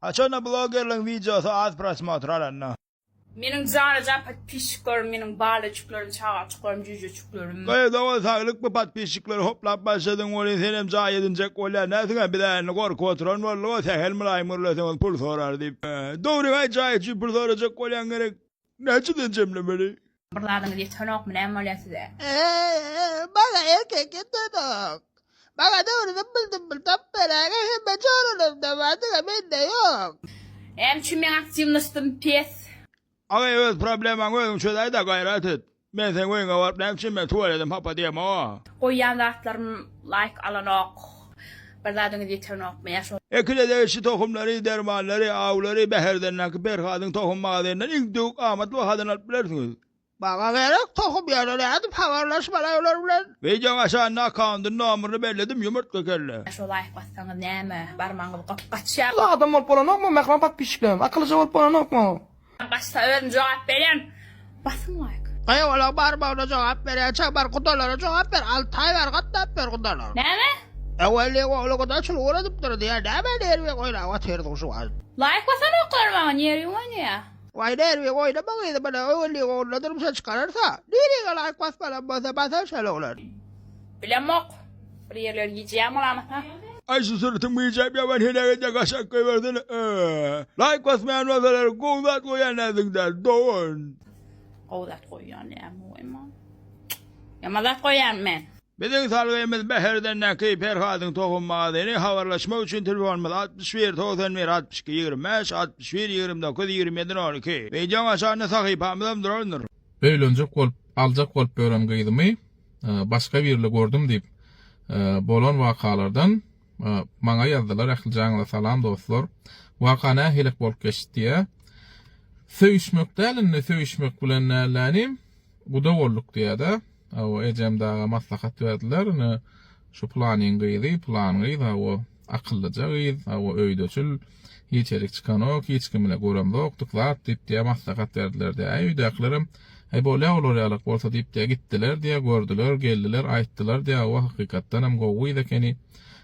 Haçanda blogerliň wideosy az prosmotr alanda. Meniň janajan podpisçiklerim meniň balajiklerim çagajyklarym jüýjeçiklerim. Goý dogan saglyk bu podpisçikleri hoplap başladyň welin senem jaý edinjek bolýar nätüňem biz älni gorkup oturan boldyk o sähel mylaýym gürleseňiz pul sorar diýip dogry aý jaý üçin pul sorajak bolýaň gerek. Näçeden jemlemeli? Bir zadyňyz ýetenokmy näme bolýar size. Eee maňa erkek ýetenok. Maňa dogrydan bir dümmül tapyp beräýge hemme çoralaryňda bar diňe mende ýok. Näme üçin meň aktiwnostim pes. Aga öz problemaňy özüň çözäýdä gaýrat et. Men seň öýüňe baryp näme üçin men tuweledim hapa diýemo. Goýýan zatlarym laýk alanok. Bir zadyňyz ýetenokmy ýa şo. Ekile degişli tohumlary, dermanlary, awlary Bäherdendäki Perhadyň tohum magazynyndan iň döwük amat bahadan alyp bilersiňiz. Maňa gerek tohum ýöne nädip habarlaş bolaý olar bilen. Wideoň aşagynda akkaundyny nomuryny belledim ýumurtga kelle. Şo laýk bassaňyz näme barmagyňyz gopgaçýa. Siz adam bolup bolanokmy mähriban podpisçiklerim akylyja bolup bolanokmy. Kim gaçsa özüm jogap berýän basyň like. Gaýa olaň barmagyna jogap berýän çabar gudalara jogap ber Altaý bar gatnap ber gudalara. Näme? Äwelliň ogly guda çul ugur edip dur diýä näme nerwiň oýnap otyrdyň şu wagt. Laýk basan oklar maňa nerwiň oýnaýa. Waý nerwiň oýnama gyzym mana äwelliň oglyna durmuşa çykararsa. Nirege laýk basmalam bolsa basar şol oglan. Bilemok. Bir ýerler gijýäň bolamyka. Aý şu sürütiň bijap ýaban heläk edýä gaşak goýbersene öööö laýk basmaýan bolsalar gowy zat goýýan näziňde dogan. Gowy zat goýýan dämi goýma. Ýaman zat goýýan men. Biziň salgymyz Bäherden Näki Perhadyň tohum magazyny habarlaşmak üçin telefonymyz altmyş bir togsan bir altmyş iki ýigrimi bäş altmyş bir ýigrimi dokuz ýigrimi ýedi nol iki wideoň aşagynda sahypamyzam durandyr. Öýlenjek bolup aljak bolup ýören gyzymy. Başga birle gördüm diýip bolan wakalardan maňa ýazdylar ähli jaňyza salam dostlar waka nähilek bolup geçdi diýä söýüşmek däl indi söýüşmek bilen näleäni guda bolduk diýädä awo ejem daga maslahat berdiler indi şu planyň gyzy plan gyz awo Akyllyja gyz, hawa öýdeçil, hiç erik çykanok, hiç kim bile göremzokdyk zat diýipdä maslahat berdilerdä. Äý öýdäkilerem, Äý bolýa olar ýalak bolsa diýipdä gitdilerdä, gördüler, geldiler, aýtdylardä, hawa hakykatdanam gowy gyz ekeni,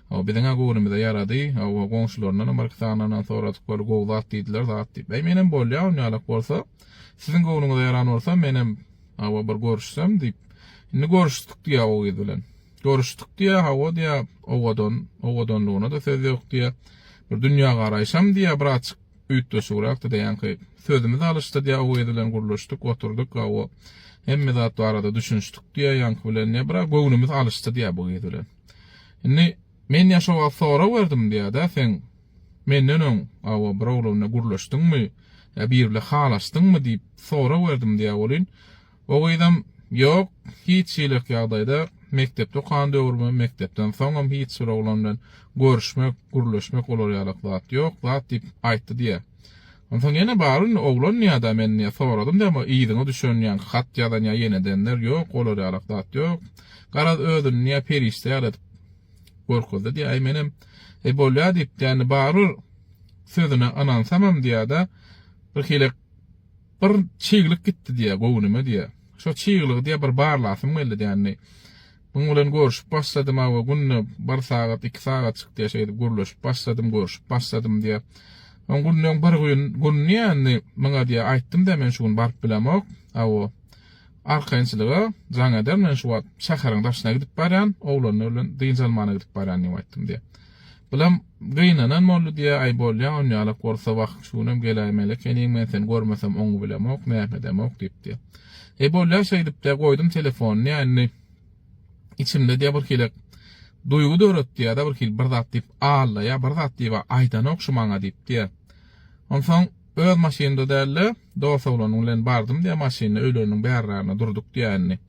hawa biziňä göwnümize ýarady, hawa goňşularyndanam birki sanlaryndan soradyk bol gowy zat diýdiler zat diýip. Äý menem bolýa on ýalak bolsa, siziň göwnüňize ýaran bolsa menem, hawa bir görüşsem diýip. Indi görüşdik diýä o gyz bilen. Görüşdik diýýä, hawa diýýä, owadan, owadanlygyna-da söz ýok diýýä. Bir dünýägaraýşam diýýä bir azjyk üýtgeşigräkdi daýanky. Sözümiz alyşdy diýýä, Oweý bilen gürleşdik, oturdyk, hawa, hemme zat barada düşünişdik diýýä, ýaňky bilen diýýä, bir-ä göwnümiz alyşdy diýýä bu gyz bilen. Indi men ýa şo wagt sorag berdim diýýä-dä, Seň menden öň, hawa, bir oglan bilen gürleşdiňmi, ýa biri bilen halaşdyňmy diýip sorag berdim diýýä welin, O gyzam, Ýok, hiç hilek ýagdaýda, mekdepde okan döwrümem, mekdepden soňam hiç bir oglan bilen görüşmek, gürleşmek olar ýalak zat ýok zat diýip aýtdy diýýä. Onsoň ýene bar indi oglan diýýä-da men diýýä, soradym diýýä emma yzyňa düşen ýaňky hat ýazan ýa ýenedenler, ýok olar ýalak zat ýok. Garaz özüni diýýä perişde ýaly edip görkezdi diýýä. Äý menem, Äý bolýa diýip diýýä indi barybir sözüne ynansamam diýýä-de, bir hilek Bir çyglyk gitdi diýýär göwnüme diýýär. Şo çyglygy diýýär bir barlasym geldi dändi. Muň bilen görüşip başladym awa günde bir sagat iki sagatjyk diýýär şeýdip gürleşip başladym görüşip başladym diýýär. Soň günleň bir gün gün diýýär indi muňa diýýär aýtdym diýýär men şu gün baryp bilemok awa. Arkaýynçylyga jaň eder, men şu wagt şäheriň daşyna gidip barýan, oglanlar bilen dynç almana gidip barýan diýip aýtdym diýýär. Bulam gynanan boldy diýýär, aý bolýa, onýalak bolsa wah, şu günem geläýmeli ekeniň, men seni görmesem oňňy bilemok, nähedemok diýip diýýär. Eý bolýa şeýdip diýýär, goýdum telefony diýýär, indi içimde diýýär bir hilek duýgy döretdi ýa-da bir hili bir zat diýip allaýar, bir zat diýib-ä aýdanok şu maňa diýip diýýär. Onsoň. Öz maşynda däl-de, dos oglanyn bilen bardym diýýär, maşynda öýleriniň bärrarynda durduk diýýär indi.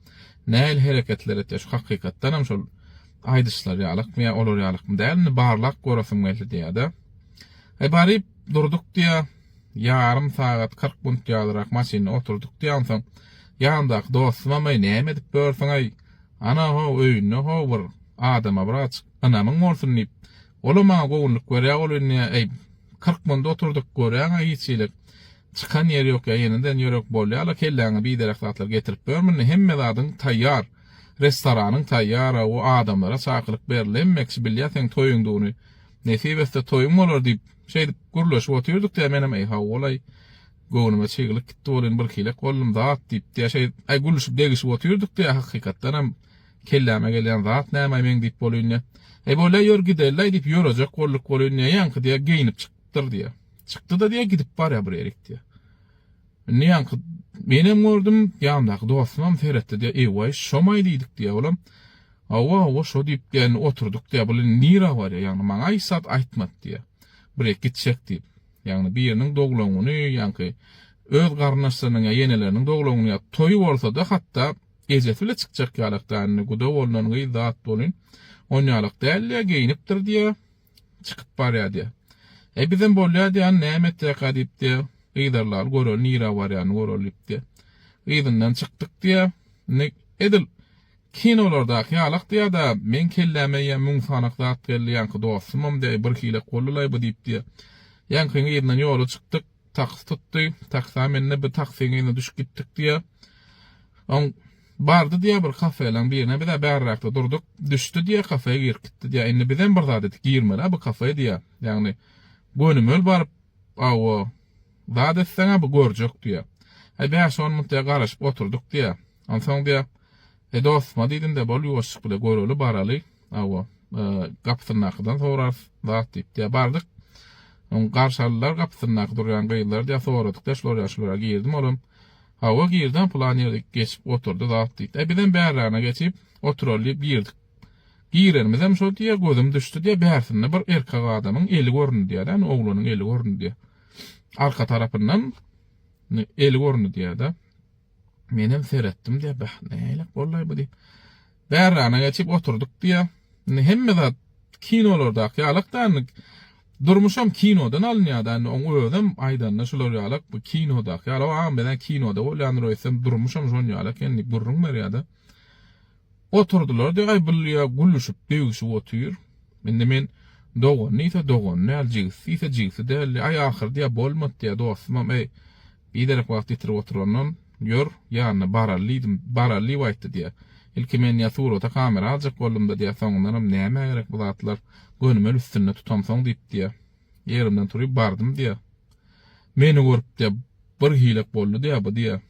Nähili hereketler etýär, şu hakykatdanam şol aýdyşlar ýalykmy ýa olar ýalykmy däl, indi barlap göresim geldi diýýär-de. Aý baryp durduk diýýär, ýarym sagat, kyrk minut ýalyrak maşynda oturdyk diýýär, onsoň ýanymdaky dostumam-aý näme edip ýörsüň-aý, ana-how öýünde-how bir adama birazajyk ynamyň bolsun diýip, Olam maňa göwünlik berýä, ol indi äý, kyrk munda oturdyk, göräň-ä hiçhilik, çykan ýeri ýok ýa ýeneden ýörek bolýa-la, kelläňe biderek zatlar getirip ber, munda hemme zadyň taýýar, restoranyň taýýar-a, o adamlara çakylyk berildi, hemme kişi bilýä seň toýuňdygyny, nesip etse toýuň bolar diýip, şeýdip gürleşip otyrdyk-da, menem äý, hawa-laý, göwnüme çyglyk gitdi, ol indi birhilek boldum, zat diýip-de, şeýdip, äý, gülüşip-degişip otyrdyk-da, hakykatdanam, Kelläme gelýän zat näme meň diýip bolýyn diýýä. Eý bolýa ýör gidelilaý diýip ýörejek bolduk bolýyn diýýä. Ýaňky diýýä geýnip çykypdyr diýýä. Çykdy-da diýýä gidip barýa bir ýerik diýýä. Indi ýaňky menem gördüm, ýanymdaky dostumam seretdi diýýä. Eý-waý şomaý diýdik diýýä olam. Hawa, hawa şo diýip diýýä indi oturduk diýýä. Bul indi nirä barýa ýagny maňa hiç zat aýtmady diýýä. Bir ýerik gitjek diýip. Ýagny biriniň doglan güni ýaňky öz garyndaşlarynyň ýa ýeneleriniň doglan güni ýa toýy bolsada hatda Ejesi bile çykjak ýalak däl indi guda bolnan gyz zat bolyn onýalak däl diýýä geýinipdir diýýä çykyp barýa diýýä e bizem bolýa diýýä any näme etjekka diýip diýýä gyzarlaly göreli nirä barýany göreli diýip diýýä yzyndan çykdyk diýýä indi edil kinolardaky ýalak diýýä da meň kelläme ýa müň sanak zat geldi ýaňky dostumam diýýä bir hilek boldylaý bu diýip diýýä ýaňkyň yzyndan ýola çykdyk Taksi tutdy. Taksi-a mende bir taksiň eline düşüp gitdik diýýär. Oň bardy diýýär bir kafelaň birine. Biz-ä bärräkde durduk. Düşdi diýýär, kafeýa girip gitdi diýýär. Indi bizem bir zat edip girmeli-ä bu kafeýa diýýär. Ýagny gönümel baryp, hawa, zat etseň-ä bu görjek diýýär. Bäş-on minut diýýär garaşyp oturdyk diýýär. Onsoň diýýär, E, dost, madidin-dä, bol ýuwaşjyk bile, göreli, baraly, hawa, gapysyndakydan sorarys zat diýip, diýýär. Bardyk. Soň garşy aldylar gapysyndaky durýan gyzlary, diýýär, soradyk, daş loža şulara girdimi olam? Hawa, girdi-ä, pylan ýerde geçip oturdy zat diýip. E, bizem bärrägine geçip oturaly diýip girdik. Girenimizem şo, diýýär, gözüm düşdi, diýýär, bärsinde bir erkek adamyň eli göründi, diýýär-de, ýagny oglanyň eli göründi, diýýär. Arka tarapyndan eli göründi, diýýär-de. Menem seretdim-de, bäh, nälelik bollaý bu diýip, bärrana geçip oturdyk diýýä. Indi hemme zat kinolardaki ýalak-da, indi durmuşam kinodan alynýa-da, indi oň özem aýdanda şular ýalak, bu kinodaki ýalak, agam biz-ä kinoda bolýandyr öýtsem, durmuşam şon ýaly eken diýip gürrüň berýä-de. Oturdylar-da, Aý, bul ýa gülüşip, degişip otyr. Indi men dogan diýse, dogan däl, jigisi diýse, jigisi däldi. Aý, ahyrda ýa bolmady, ýa dostumam, äý, biderek wagt ýitirip oturandan, ýör, ýanyna baraly diýdim, baraly diýip aýtdy diýýär. Ilki men ýa surata kamera aljak boldum-da diýýär, soňundanam nämä gerek bu zatlar, gönüm el üstünde tutamsoň diýip diýýär. Ýerimden turup bardym diýýär. Meni görüp diýýär, birhilek boldy diýýär bu diýýär.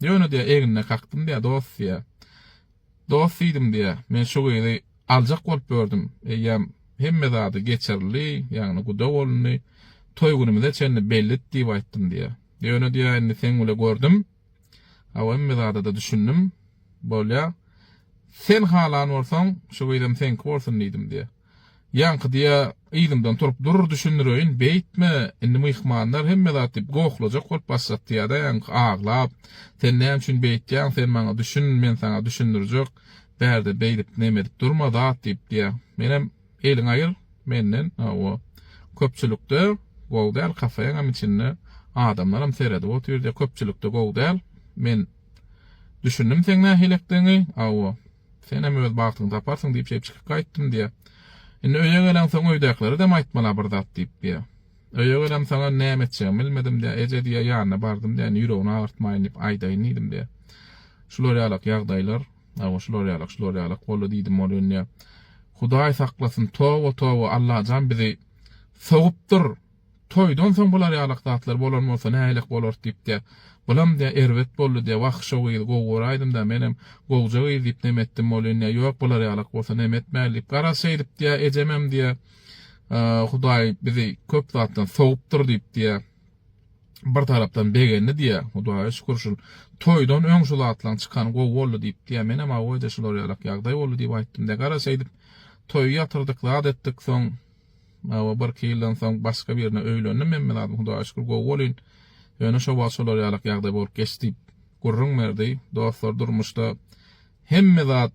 Ýöne diýýär, egnine kakdym diýýär, dost diýýär. Dost diýdim diýýär, men şu gyzy aljak bolup ýördüm, eýýäm hemme zady geçirildi, ýagny guda bolundy, toý günümize çenli bellidi diýip aýtdym diýýär. Ýöne diýýär, indi seň bile gördüm, hawa hemme zada-da düşündim, bolýar, sen halan bolsaň, şu gyzam seňki bolsun diýdim diýýär. Ýaňkydy-ýa yzymdan turup dur, düşündireýin, beýtme, indi myhmanlar hemme zat diýip gohlajak bolup başlapdy ýa-da ýaňky aglap, sen näme üçin beýtýäň, sen maňa düşün, men saňa düşündirjek, bärde beýdip, neme edip durma, zat diýip diýýär. Menem, eliňi aýyr menden, hawa, köpçülikde gowy däl, kafeňem içinde adamlaram seredip otyr diýýär, köpçülikde gowy däl, men düşündim seň nähililikdigiňi, hawa. Senem öz bagtyňy taparsyň diýip şeýip çykyp gaýtdym diýýär. Indi öýe geleňsoň öýdäkileredem aýtmala bir zat diýip diýýär. Öýe gelemsoň hem näme etjegimi bilmedim diýýär. Eje diýýär ýanyna bardym diýýär indi ýüregini agyrtmaýyn diýip aýdaýyn diýdim diýýär. Şular ýalak ýagdaýlar awa şular ýalak şular ýalak boldy diýdim ol indi. Hudaý saklasyn toba toba Allajan bizi sogupdyr Toýdan soň bular ýalak zatlar bolan bolsa nähilek bolardy diýipdä. Bulamdä erbet boldudä, Wah, şo gyz gowy göräýdimdä, menem gowja gyz diýip neme etdim bolýandä, ýok, bular ýalak bolsa neme etmäli diýip, garaz, şeýdipdä, ejememdä, Hudaý bizi köp zatdan sowupdyr diýipdä. Bir tarapdan begendidä, Hudaýa şükür, şul toýdan öň şu zatlaň çykany gowy boldy diýipdä, menem hawa-da, şular ýalak ýagdaý boldy diýip aýtdymdä, garaz, şeýdip, toýy ýatyrdyk, zat etdik, soň. Mawa birki ýyldan soň başga birine öýlendim Memmezadym Hudaýa şükür gowy bolýn. Ýöne şo wagt şolar ýalak ýagdaý bolup geçdi diýip gürrüň berdi. Dostlar durmuşda hemme zat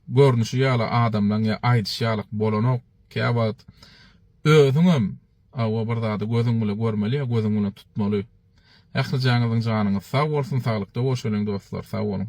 görnüşi ýaly adamlaň ýa aýdyşy ýalak bolanok. Käwagt özüňem awa bir zady gözüň bile görmeli ýa gözüň bilen tutmaly. Ählijaňyzyň janyňyz sag bolsun saglykda bolşalyň dostlar sag boluň.